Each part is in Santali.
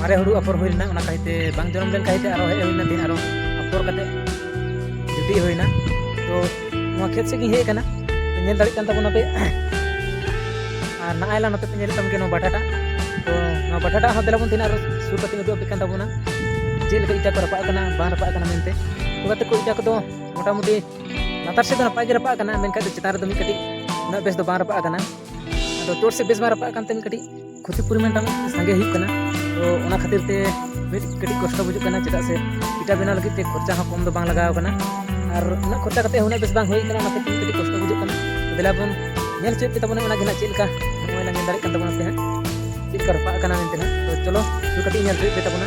ᱢᱟᱨᱮ ᱦᱩᱲᱩ ᱟᱯᱷᱚᱨ ᱦᱩᱭ ᱞᱮᱱᱟ ᱚᱱᱟ ᱠᱟᱹᱦᱤᱛᱮ ᱵᱟᱝ ᱡᱚᱱᱚᱢ ᱞᱮᱱ ᱠᱟᱹᱦᱤᱛᱮ ᱟᱨᱚ ᱦᱮᱡ ᱦᱩᱭ ᱞᱮᱱᱟ ᱛᱮᱦᱮᱧ ᱟᱨᱚ ᱟᱯᱷᱚᱨ ᱠᱟᱛᱮ ᱡᱩᱴᱤ ᱦᱩᱭᱱᱟ ᱛᱚ ᱱᱚᱣᱟ ᱠᱷᱮᱛ ᱥᱮᱫ ᱜᱤᱧ ᱦᱮᱡ ᱟᱠᱟᱱᱟ ᱧᱮᱞ ᱫᱟᱲᱮᱜ ᱠᱟᱱ ᱛᱟᱵᱚᱱᱟ ᱯᱮ ᱟᱨ ᱱᱟᱜᱼᱟᱭ ᱞᱟᱝ ᱱᱚᱛᱮ ᱯᱮ ᱧᱮᱞᱮᱫ ᱛᱟᱵᱚᱱ ᱜᱮᱭᱟ ᱱᱚᱣᱟ ᱵᱟᱴᱟᱴᱟ ᱛᱚ ᱱᱚᱣᱟ ᱵᱟᱴᱟᱴᱟ ᱦᱚᱸ ᱫᱮᱞᱟ ᱵᱚᱱ ᱛᱮᱦᱮᱧ ᱟᱨᱚ ᱥᱩᱨ ᱠᱟᱛᱮ ᱩᱫᱩᱜ ᱟᱯᱮ ᱠᱟᱱ ᱛᱟᱵᱚᱱᱟ ᱪᱮᱫ ᱞᱮᱠᱟ ᱤᱴᱟ ᱠᱚ ᱨᱟᱯᱟᱜ ᱠᱟᱱᱟ ᱵᱟᱝ ᱨᱟᱯᱟᱜ ᱠᱟᱱᱟ ᱢᱮᱱᱛᱮ ᱛᱚ ᱜᱟᱛᱮ ᱠᱚ ᱤᱴᱟ ᱠᱚᱫᱚ ᱢᱚᱴᱟᱢᱩᱴᱤ ᱞᱟᱛᱟᱨ ᱥᱮᱫ ᱫᱚ ᱱᱟᱯᱟᱭ ᱜᱮ ᱨᱟᱯᱟᱜ ᱠᱟᱱᱟ ᱢᱮᱱᱠᱷᱟᱱ ᱪᱮᱛᱟᱱ ᱨᱮᱫᱚ ᱢᱤᱫ ᱠᱟᱹᱴᱤᱡ ᱩᱱᱟᱹᱜ ᱵᱮᱥ ᱫᱚ ᱵᱟᱝ ᱨᱟᱯᱟᱜ ᱠᱟᱱᱟ ᱟᱫᱚ ᱪᱚᱴ ᱥᱮᱫ ᱵᱮᱥ ᱵᱟᱝ ᱨᱟᱯᱟᱜ ᱠᱟᱱᱛᱮ ᱢᱤᱫ ᱠᱟᱹᱴᱤᱡ ᱠᱷᱚᱛᱤ ᱯᱚᱨᱤᱢᱟᱱ ᱴᱟᱜ ᱥᱟᱸᱜᱮ ᱦᱩᱭᱩᱜ ᱠᱟᱱᱟ ᱛᱚ ᱚᱱᱟ ᱠᱷᱟᱹᱛᱤᱨ ᱛᱮ ᱢᱤᱫ ᱠᱟᱹᱴᱤᱡ ᱠᱚᱥᱴᱚ ᱵᱩᱡᱩᱜ ᱠᱟᱱᱟ ᱪᱮᱫᱟᱜ ᱥᱮ ᱤᱴᱟ ᱵᱮᱱᱟᱣ ᱞᱟᱹᱜᱤᱫ ᱛᱮ ᱠᱷᱚᱨᱪᱟ ᱦᱚᱸ ᱠᱚᱢ ᱫᱚ ᱵᱟᱝ ᱞᱟᱜᱟᱣ ᱠᱟᱱᱟ ᱟᱨ ᱩᱱᱟᱹᱜ ᱠᱷᱚᱨᱪᱟ ᱠᱟᱛᱮ ᱩᱱᱟᱹᱜ ᱵᱮᱥ ᱵᱟᱝ ᱦᱩᱭ ᱠᱟᱱᱟ ᱚᱱᱟ ᱠᱷᱟᱹᱛᱤᱨ ᱠᱟᱹᱴᱤᱡ ᱠᱚᱥᱴᱚ ᱵᱩᱡᱩᱜ ᱠᱟᱱᱟ ᱫᱮᱞᱟ ᱵᱚᱱ ᱧᱮᱞ ᱦᱚᱪᱚᱭᱮᱫ ᱯᱮ ᱛᱟᱵᱚᱱᱟ ᱚᱱᱟ ᱜᱮ ᱱᱟᱜ ᱪᱮᱫ ᱞᱮᱠᱟ ᱱᱚᱜᱼᱚᱭ ᱞᱟᱝ ᱧᱮᱞ ᱫᱟᱲᱮᱭᱟᱜ ᱠᱟᱱ ᱛᱟᱵᱚᱱᱟ ᱯᱮ ᱦᱟᱸᱜ ᱪᱮᱫ ᱞᱮᱠᱟ ᱨᱟᱯᱟᱜ ᱠᱟᱱᱟ ᱢᱮᱱᱛᱮ ᱦᱟᱸᱜ ᱛᱚ ᱪᱚᱞᱚ ᱥᱩᱨ ᱠᱟᱛᱮ ᱧᱮᱞ ᱦᱚᱪᱚᱭᱮᱫ ᱯᱮ ᱛᱟᱵᱚᱱᱟ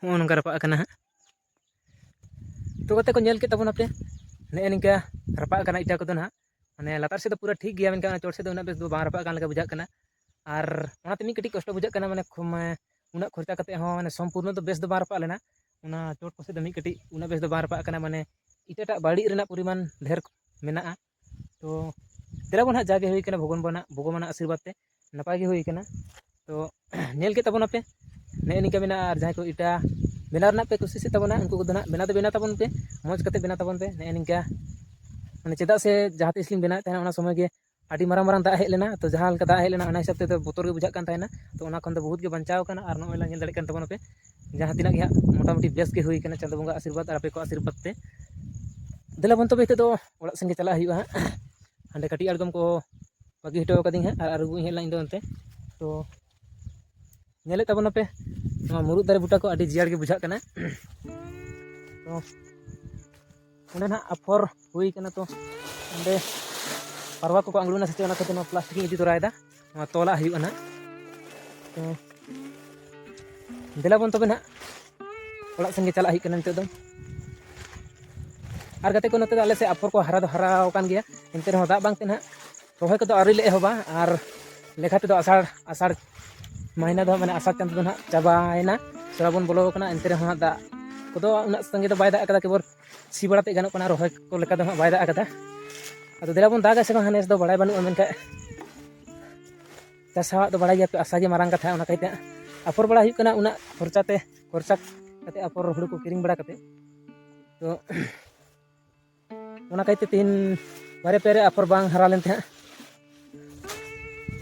ᱱᱚᱜᱼᱚ ᱱᱚᱝᱠᱟ ᱨᱟᱯᱟᱜ ᱠᱟᱱᱟ ᱦᱟᱸᱜ ᱩᱛᱩ ᱠᱟᱛᱮ ᱠᱚ ᱧᱮᱞ ᱠᱮᱫ ᱛᱟᱵᱚᱱᱟ ᱯᱮ ᱱᱮᱜᱼᱮ ᱱᱤᱝᱠᱟ ᱨᱟᱯᱟᱜ ᱠᱟᱱᱟ ᱤᱴᱟᱹ ᱠᱚᱫᱚ ᱦᱟᱸᱜ ᱢᱟᱱᱮ ᱞᱟᱛᱟᱨ ᱥᱮᱫ ᱫᱚ ᱯᱩᱨᱟᱹ ᱴᱷᱤᱠ ᱜᱮᱭᱟ ᱢᱮᱱᱠᱷᱟᱱ ᱪᱚᱴ ᱥᱮᱫ ᱫᱚ ᱩᱱᱟᱹᱜ ᱵᱮᱥ ᱫᱚ ᱵᱟᱝ ᱨᱟᱯᱟᱜ ᱠᱟᱱ ᱞᱮᱠᱟ ᱵᱩᱡᱷᱟᱹᱜ ᱠᱟᱱᱟ ᱟᱨ ᱚᱱᱟᱛᱮ ᱢᱤᱫ ᱠᱟᱹᱴᱤᱡ ᱠᱚᱥᱴᱚ ᱵᱩᱡᱷᱟᱹᱜ ᱠᱟᱱᱟ ᱢᱟᱱᱮ ᱩᱱᱟᱹᱜ ᱠᱷᱚᱨᱪᱟ ᱠᱟᱛᱮ ᱦᱚᱸ ᱢᱟᱱᱮ ᱥᱚᱢᱯᱩᱨᱱᱚ ᱫᱚ ᱵᱮᱥ ᱫᱚ ᱵᱟᱝ ᱨᱟᱯᱟᱜ ᱞᱮᱱᱟ ᱚᱱᱟ ᱪᱚᱴ ᱠᱚᱥᱮᱡ ᱫᱚ ᱢᱤᱫ ᱠᱟᱹᱴᱤᱡ ᱩᱱᱟᱹᱜ ᱵᱮᱥ ᱫᱚ ᱵᱟᱝ ᱨᱟᱯᱟᱜ ᱠᱟᱱᱟ ᱢᱟᱱᱮ ᱤᱴᱟᱹᱴᱟᱜ ᱵᱟᱹᱲᱤᱡ ᱨᱮᱱᱟᱜ ᱯᱚᱨᱤᱢᱟᱱ ᱰᱷᱮᱨ ᱢᱮᱱᱟᱜᱼᱟ ᱛᱚ ᱫᱮᱞᱟ ᱵᱚᱱ ᱦᱟᱸᱜ ᱡᱟᱜᱮ ᱦᱩᱭ ᱠᱟᱱᱟ ᱵᱷᱚᱜᱚᱱ ᱵᱟᱱᱟᱜ ᱵᱷᱚᱜᱚᱵᱟᱱᱟᱜ ᱟᱥᱤᱨᱵᱟᱫᱽ ᱛᱮ ᱱᱟᱯᱟᱭ ᱜᱮ ᱦᱩᱭ ᱠᱟᱱᱟ ᱛᱚ ᱧᱮᱞ ᱠᱮᱫ ᱛᱟᱵᱚᱱᱟᱯᱮ ᱱᱮᱜᱼᱮ ᱱᱤᱝᱠᱟ ᱢᱮᱱᱟᱜᱼᱟ ᱟᱨ ᱡᱟᱦᱟᱸᱭ ᱠᱚ ᱤᱴᱟ ᱵᱮᱱᱟᱣ ᱨᱮᱱᱟᱜ ᱯᱮ ᱠᱩᱥᱤᱥᱮᱫ ᱛᱟᱵᱚᱱᱟ ᱩᱱᱠᱩ ᱠᱚᱫᱚ ᱦᱟᱸᱜ ᱵᱮᱱᱟᱣ ᱫᱚ ᱵᱮᱱᱟᱣ ᱛᱟᱵᱚᱱ ᱯᱮ ᱢᱚᱡᱽ ᱠᱟᱛᱮ ᱵᱮᱱᱟᱣ ᱛᱟᱵᱚᱱ ᱯᱮ ᱱᱮᱜᱼᱮ ᱱᱤᱝᱠᱟ ᱢᱟᱱᱮ ᱪᱮᱫᱟᱜ ᱥᱮ ᱡᱟᱦᱟᱸ ᱛᱤᱥ ᱞᱤᱧ ᱵᱮᱱᱟᱣᱮᱫ ᱛᱟᱦᱮᱱᱟ ᱚᱱᱟ ᱥᱚᱢᱚᱭ ᱜᱮ ᱟᱹᱰᱤ ᱢᱟᱨᱟᱝ ᱢᱟᱨᱟᱝ ᱫᱟᱜ ᱦᱮᱡ ᱞᱮᱱᱟ ᱛᱚ ᱡᱟᱦᱟᱸ ᱞᱮᱠᱟ ᱫᱟᱜ ᱦᱮᱡ ᱞᱮᱱᱟ ᱚᱱᱟ ᱦᱤᱥᱟᱹᱵ ᱛᱮᱫᱚ ᱵᱚᱛᱚᱨ ᱜᱮ ᱵᱩᱡᱷᱟᱹᱜ ᱠᱟᱱ ᱛᱟᱦᱮᱱᱟ ᱛᱚ ᱚᱱᱟ ᱠᱷᱚᱱ ᱫᱚ ᱵᱚᱦᱩᱛ ᱜᱮ ᱵᱟᱧᱪᱟᱣ ᱠᱟᱱᱟ ᱟᱨ ᱱᱚᱜᱼᱚᱭ ᱞᱟᱝ ᱧᱮᱞ ᱫᱟᱲᱮᱭᱟᱜ ᱠᱟᱱ ᱛᱟᱵᱚᱱᱟᱯᱮ ᱡᱟᱦᱟᱸ ᱛᱤᱱᱟᱹᱜ ᱜᱮ ᱦᱟᱸᱜ ᱢᱚᱴᱟᱢᱩᱴᱤ ᱵᱮᱥ ᱜᱮ ᱦᱩᱭ ᱠᱟᱱᱟ ᱪᱟᱸᱫᱚ ᱵᱚᱸᱜᱟ ᱟᱥᱤᱨᱵᱟᱫᱽ ᱟᱨ ᱟᱯᱮ ᱠᱚᱣᱟᱜ ᱟᱥᱤᱨᱵᱟᱫᱽ ᱛᱮ ᱫᱮᱞᱟ ᱵᱚᱱ ᱛᱚᱵᱮ ᱱᱤᱛᱚᱜ ᱫᱚ ᱚᱲᱟᱜ ᱥᱮᱱ ᱜᱮ ᱪᱟᱞᱟᱜ ᱦᱩᱭᱩᱜᱼᱟ ᱦᱟᱸᱜ ᱦᱟᱸᱰᱮ ᱠᱟᱹᱴᱤᱡ ᱟᱬᱜᱚᱢ ᱠᱚ ᱵᱟᱹᱜᱤ ᱦᱚᱴᱚ ᱠᱟᱹᱫᱤᱧ ᱦᱟᱸᱜ ᱟᱨ ᱟᱹᱨᱩᱵᱚᱜᱼᱟᱹᱧ ᱦᱟᱸᱜ ᱤᱧᱫᱚ ᱚᱱᱛᱮ ᱛᱚ ᱧᱮᱞᱮᱫ ᱛᱟᱵᱚᱱᱟᱯᱮ ᱱᱚᱣᱟ ᱢᱩᱨᱩᱫ ᱫᱟᱨᱮ ᱵᱩᱴᱟᱹ ᱠᱚ ᱟᱹᱰᱤ ᱡᱤᱭᱟᱹᱲ ᱜᱮ ᱵᱩᱡᱷᱟᱹᱜ ᱠᱟᱱᱟ ᱛᱚ ᱚᱸᱰᱮ ᱱᱟᱦᱟᱜ ᱟᱯᱷᱚᱨ ᱦᱩᱭ ᱠᱟᱱᱟ ᱛᱚ ᱚᱸᱰᱮ ᱯᱟᱨᱣᱟ ᱠᱚᱠᱚ ᱟᱬᱜᱚᱱᱟ ᱥᱮ ᱪᱮᱫ ᱚᱱᱟ ᱠᱷᱟᱹᱛᱤᱨ ᱱᱚᱣᱟ ᱯᱞᱟᱥᱴᱤᱠ ᱤᱧ ᱤᱫᱤ ᱛᱚᱨᱟᱭᱮᱫᱟ ᱱᱚᱣᱟ ᱛᱚᱞᱟᱜ ᱦᱩᱭᱩᱜᱼᱟ ᱱᱟᱜ ᱛᱚ ᱫᱮᱞᱟ ᱵᱚᱱ ᱛᱚᱵᱮ ᱱᱟᱜ ᱚᱲᱟᱜ ᱥᱮᱱ ᱜᱮ ᱪᱟᱞᱟᱜ ᱦᱩᱭᱩᱜ ᱠᱟᱱᱟ ᱱᱤᱛᱚᱜ ᱫᱚ ᱟᱨ ᱜᱟᱛᱮ ᱠᱚ ᱱᱚᱛᱮ ᱫᱚ ᱟᱞᱮ ᱥᱮᱫ ᱟᱯᱷᱚᱨ ᱠᱚ ᱦᱟᱨᱟ ᱫᱚ ᱦᱟᱨᱟ ᱟᱠᱟᱱ ᱜᱮᱭᱟ ᱮᱱᱛᱮ ᱨᱮᱦᱚᱸ ᱫᱟᱜ ᱵᱟᱝᱛᱮ ᱱᱟᱜ ᱨᱚᱦᱚᱭ ᱠᱚᱫᱚ ᱟᱹᱣᱨᱤ ᱞᱮ ᱮᱦᱚᱵᱟ ᱟᱨ ᱞᱮᱠᱷᱟ ᱛᱮᱫᱚ ᱟᱥᱟᱲ ᱟᱥᱟᱲ ᱢᱟᱹᱦᱱᱟᱹ ᱫᱚ ᱢᱟᱱᱮ ᱟᱥᱟᱲ ᱪᱟᱸᱫᱚ ᱫᱚ ᱱᱟᱜ ᱪᱟᱵᱟᱭᱮᱱᱟ ᱥᱨᱟᱵᱚᱱ ᱵᱚᱞᱚ ᱟᱠᱟᱱᱟ ᱮᱱᱛᱮ ᱨᱮᱦᱚᱸ ᱫᱟᱜ ᱠᱚᱫᱚ ᱩᱱᱟᱹᱜ ᱥᱟᱸᱜᱮ ᱫᱚ ᱵᱟᱭ ᱫᱟᱜ ᱠᱟᱫᱟ ᱠᱮᱵᱚᱞ ᱥᱤ ᱵᱟᱲᱟ ᱛᱮ ᱜᱟᱱᱚᱜ ᱠᱟᱱᱟ ᱨᱚᱦᱚᱭ ᱠᱚ ᱞᱮᱠᱟ ᱫᱚ ᱦᱟᱸᱜ ᱵᱟᱭ ᱫᱟᱜ ᱟᱠᱟᱫᱟ ᱟᱫᱚ ᱫᱮᱞᱟ ᱵᱚᱱ ᱫᱟᱜᱟ ᱥᱮ ᱵᱟᱝ ᱱᱮᱥ ᱫᱚ ᱵᱟᱲᱟᱭ ᱵᱟᱹᱱᱩᱜᱼᱟ ᱢᱮᱱᱠᱷᱟᱱ ᱪᱟᱥᱟᱣᱟᱜ ᱫᱚ ᱵᱟᱲᱟᱭ ᱜᱮᱭᱟ ᱯᱮ ᱟᱥᱟ ᱜᱮ ᱢᱟᱨᱟᱝ ᱠᱟᱛᱷᱟ ᱚᱱᱟ ᱠᱟᱭᱛᱮ ᱟᱯᱷᱚᱨ ᱵᱟᱲᱟ ᱦᱩᱭᱩᱜ ᱠᱟᱱᱟ ᱩᱱᱟᱹᱜ ᱠᱷᱚᱨᱪᱟ ᱛᱮ ᱠᱷᱚᱨᱪᱟ ᱠᱟᱛᱮ ᱟᱯᱷᱚᱨ ᱦᱩᱲᱩ ᱠᱚ ᱠᱤᱨᱤᱧ ᱵᱟᱲᱟ ᱠᱟᱛᱮ ᱛᱚ ᱚᱱᱟ ᱠᱟᱭᱛᱮ ᱛᱮᱦᱮᱧ ᱵᱟᱨᱮ ᱯᱮᱨᱮ ᱟᱯᱷᱚᱨ ᱵᱟᱝ ᱦᱟᱨᱟ ᱞᱮᱱ ᱛᱟᱦᱮᱸᱫ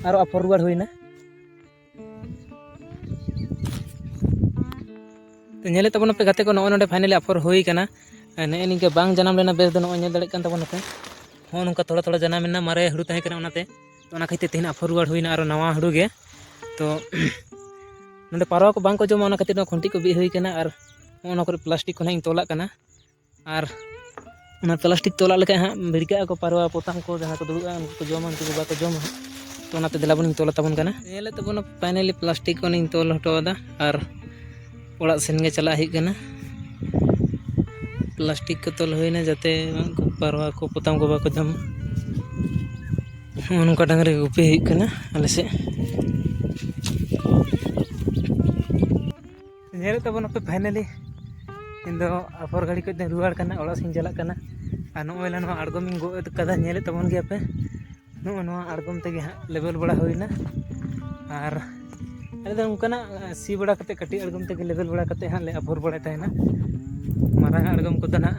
ᱟᱨᱚ ᱟᱯᱷᱚᱨ ᱨᱩᱣᱟᱹᱲ ᱦᱩᱭᱱᱟ ᱧᱮᱞᱮᱫ ᱛᱟᱵᱚᱱ ᱯᱮ ᱜᱟᱛᱮ ᱠᱚ ᱱᱚᱜᱼᱚᱭ ᱱᱚᱰᱮ ᱯᱷᱟᱭᱱᱟᱞᱤ ᱟᱯᱷᱚᱨ ᱦᱩᱭ ᱠᱟᱱᱟ ᱱᱮᱜᱼᱮ ᱱᱤᱝᱠᱟᱹ ᱵᱟᱝ ᱡᱟᱱᱟᱢ ᱞᱮᱱᱟ ᱵᱮᱥ ᱫᱚ ᱱᱚᱜᱼᱚᱭ ᱧᱮᱞ ᱫᱟᱲᱮᱭᱟᱜ ᱠᱟᱱ ᱛᱟᱵᱚᱱᱟ ᱯᱮ ᱦᱚᱸ ᱱᱚᱝᱠᱟ ᱛᱷᱚᱲᱟ ᱛᱷᱚᱲᱟ ᱡᱟᱱᱟᱢ ᱮᱱᱟ ᱢᱟᱨᱮ ᱦᱩᱲᱩ ᱛᱟᱦᱮᱸ ᱠᱟᱱᱟ ᱚᱱᱟᱛᱮ ᱛᱚ ᱚᱱᱟ ᱠᱷᱟᱹᱛᱤᱨ ᱛᱮᱦᱮᱧ ᱟᱯᱷᱚᱨ ᱨᱩᱣᱟᱹᱲ ᱦᱩᱭᱱᱟ ᱟᱨᱚ ᱱᱟᱣᱟ ᱦᱩᱲᱩ ᱜᱮ ᱛᱚ ᱱᱚᱰᱮ ᱯᱟᱨᱣᱟ ᱠᱚ ᱵᱟᱝ ᱠᱚ ᱡᱚᱢᱟ ᱚᱱᱟ ᱠᱷᱟᱹᱛᱤᱨ ᱱᱚᱣᱟ ᱠᱷᱩᱱᱴᱤ ᱠᱚ ᱵᱤᱫ ᱦᱩᱭ ᱠᱟᱱᱟ ᱟᱨ ᱚᱱᱟ ᱠᱚᱨᱮ ᱯᱞᱟᱥᱴᱤᱠ ᱠᱚ ᱱᱟᱜ ᱤᱧ ᱛᱚᱞᱟᱜ ᱠᱟᱱᱟ ᱟᱨ ᱚᱱᱟ ᱯᱞᱟᱥᱴᱤᱠ ᱛᱚᱞᱟᱜ ᱞᱮᱠᱷᱟᱡ ᱦᱟᱸᱜ ᱵᱷᱤᱲᱠᱟᱹᱜ ᱟᱠᱚ ᱯᱟᱨᱣᱟ ᱯᱚᱛᱟᱢ ᱠᱚ ᱡᱟᱦᱟᱸ ᱠᱚ ᱫᱩᱲᱩᱵᱼᱟ ᱩᱱᱠᱩ ᱠᱚ ᱡᱚᱢᱟ ᱩᱱᱠᱩ ᱠᱚ ᱵᱟᱠᱚ ᱡᱚᱢᱟ ᱦᱟᱸᱜ ᱛᱚ ᱚᱱᱟᱛᱮ ᱫᱮᱞᱟ ᱵᱚᱱ ᱛᱚᱞ ᱟᱛᱟᱵᱚᱱ ᱠᱟᱱᱟ ᱧᱮᱞᱮᱫ ᱛᱟᱵᱚᱱᱟ ᱯᱷᱟᱭᱱᱮᱞᱤ ᱯᱞᱟᱥᱴᱤᱠ ᱠᱚᱞᱤᱧ ᱛᱚᱞ ᱦᱚᱴᱚ ᱟᱫᱟ ᱟᱨ ᱚᱲᱟᱜ ᱥᱮᱱ ᱜᱮ ᱪᱟᱞᱟᱜ ᱦᱩᱭᱩᱜ ᱠᱟᱱᱟ ᱯᱞᱟᱥᱴᱤᱠ ᱠᱚ ᱛᱚᱞ ᱦᱩᱭᱱᱟ ᱡᱟᱛᱮ ᱩᱱᱠᱩ ᱯᱟᱨᱣᱟ ᱠᱚ ᱯᱚᱛᱟᱢ ᱠᱚ ᱵᱟᱠᱚ ᱡᱚᱢ ᱱᱚᱜᱼᱚ ᱱᱚᱝᱠᱟ ᱰᱟᱝᱨᱤ ᱜᱩᱯᱤ ᱦᱩᱭᱩᱜ ᱠᱟᱱᱟ ᱟᱞᱮ ᱥᱮᱫ ᱧᱮᱞᱮᱫ ᱛᱟᱵᱚᱱ ᱟᱯᱮ ᱯᱷᱟᱭᱱᱟᱞᱤ ᱤᱧ ᱫᱚ ᱟᱯᱷᱚᱨ ᱜᱷᱟᱹᱲᱤ ᱠᱷᱚᱡ ᱫᱚᱧ ᱨᱩᱣᱟᱹᱲ ᱠᱟᱱᱟ ᱚᱲᱟᱜ ᱥᱮᱫ ᱤᱧ ᱪᱟᱞᱟᱜ ᱠᱟᱱᱟ ᱟᱨ ᱱᱚᱜᱼᱚᱭ ᱞᱮ ᱱᱚᱣᱟ ᱟᱬᱜᱚᱢᱤᱧ ᱜᱚᱫ ᱠᱟᱫᱟ ᱧᱮᱞᱮᱫ ᱛᱟᱵᱚᱱ ᱜᱮᱭᱟ ᱯᱮ ᱱᱚᱜᱼᱚ ᱱᱚᱣᱟ ᱟᱬᱜᱚᱢ ᱛᱮᱜᱮ ᱦᱟᱸᱜ ᱞᱮᱵᱮᱞ ᱵᱟᱲᱟ ᱦᱩᱭᱱᱟ ᱟᱨ ᱟᱞᱮ ᱫᱚ ᱚᱱᱠᱟᱱᱟᱜ ᱥᱤ ᱵᱟᱲᱟ ᱠᱟᱛᱮᱫ ᱠᱟᱹᱴᱤᱡ ᱟᱬᱜᱚᱢ ᱛᱮᱜᱮ ᱞᱮᱵᱮᱞ ᱵᱟᱲᱟ ᱠᱟᱛᱮᱫ ᱦᱟᱸᱜ ᱞᱮ ᱟᱯᱷᱚᱨ ᱵᱟᱲᱟᱭ ᱛᱟᱦᱮᱱᱟ ᱢᱟᱨᱟᱝ ᱟᱜ ᱟᱬᱜᱚᱢ ᱠᱚᱫᱚ ᱦᱟᱸᱜ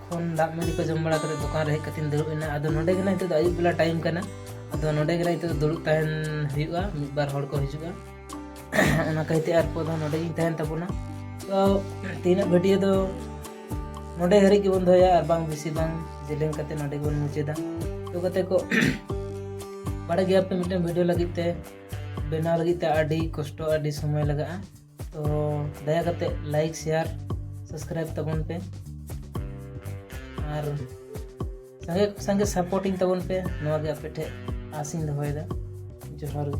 ᱠᱷᱚᱱ ᱫᱟᱜ ᱢᱟᱹᱰᱤ ᱠᱚ ᱡᱚᱢ ᱵᱟᱲᱟ ᱠᱟᱛᱮ ᱫᱚᱠᱟᱱ ᱨᱮ ᱦᱮᱡ ᱠᱟᱛᱮᱧ ᱫᱩᱲᱩᱵ ᱮᱱᱟ ᱟᱫᱚ ᱱᱚᱰᱮ ᱜᱮ ᱱᱤᱛᱚᱜ ᱫᱚ ᱟᱹᱭᱩᱵ ᱵᱮᱞᱟ ᱴᱟᱭᱤᱢ ᱠᱟᱱᱟ ᱟᱫᱚ ᱱᱚᱰᱮ ᱜᱮ ᱱᱤᱛᱚᱜ ᱫᱩᱲᱩᱵ ᱛᱟᱦᱮᱱ ᱦᱩᱭᱩᱜᱼᱟ ᱢᱤᱫ ᱵᱟᱨ ᱦᱚᱲ ᱠᱚ ᱦᱤᱡᱩᱜᱼᱟ ᱚᱱᱟ ᱠᱟᱹᱭᱛᱮ ᱟᱨ ᱠᱚ ᱫᱚ ᱱᱚᱰᱮ ᱜᱤᱧ ᱛᱟᱦᱮᱱ ᱛᱟᱵᱚᱱᱟ ᱛᱚ ᱛᱮᱦᱮᱧᱟᱜ ᱵᱷᱤᱰᱤᱭᱳ ᱫᱚ ᱱᱚᱰᱮ ᱦᱟᱹᱨᱤᱡ ᱜᱮᱵᱚᱱ ᱫᱚᱦᱚᱭᱟ ᱟᱨ ᱵᱟᱝ ᱵᱮᱥᱤ ᱵᱟᱝ ᱡᱮᱞᱮᱧ ᱠᱟᱛᱮ ᱱᱚᱰᱮ ᱜᱮᱵᱚᱱ ᱢᱩᱪᱟᱹᱫᱟ ᱛᱚ ᱠᱟᱛᱮ ᱠᱚ ᱵᱟᱲᱟᱭ ᱜᱮᱭᱟ ᱯᱮ ᱢᱤᱫᱴᱮᱱ ᱵᱷᱤᱰᱤᱭᱳ ᱞᱟᱹᱜᱤᱫ ᱛᱮ ᱵᱮᱱᱟᱣ ᱞᱟᱹᱜᱤᱫ ᱛᱮ ᱟᱹᱰᱤ ᱠᱚᱥᱴᱚ ᱟᱹᱰᱤ ᱥᱚᱢᱚᱭ ᱞᱟᱜᱟᱜᱼᱟ ᱛᱚ ᱫᱟᱭᱟ ᱠᱟᱛᱮ ᱞᱟᱭᱤᱠ ᱥᱮᱭᱟᱨ ᱥᱟᱵᱥᱠᱨᱟᱭᱤᱵ ᱛᱟᱵᱚᱱ ᱯᱮ ᱟᱨ ᱥᱟᱸᱜᱮ ᱥᱟᱸᱜᱮ ᱥᱟᱯᱳᱨᱴᱤᱝ ᱛᱟᱵᱚᱱ ᱯᱮ ᱱᱚᱣᱟ ᱜᱮ ᱟᱯᱮ ᱴᱷᱮᱡ ᱟᱥᱤᱧ ᱫᱚᱦᱚᱭᱮᱫᱟ ᱡᱚᱦᱟᱨ ᱜᱮ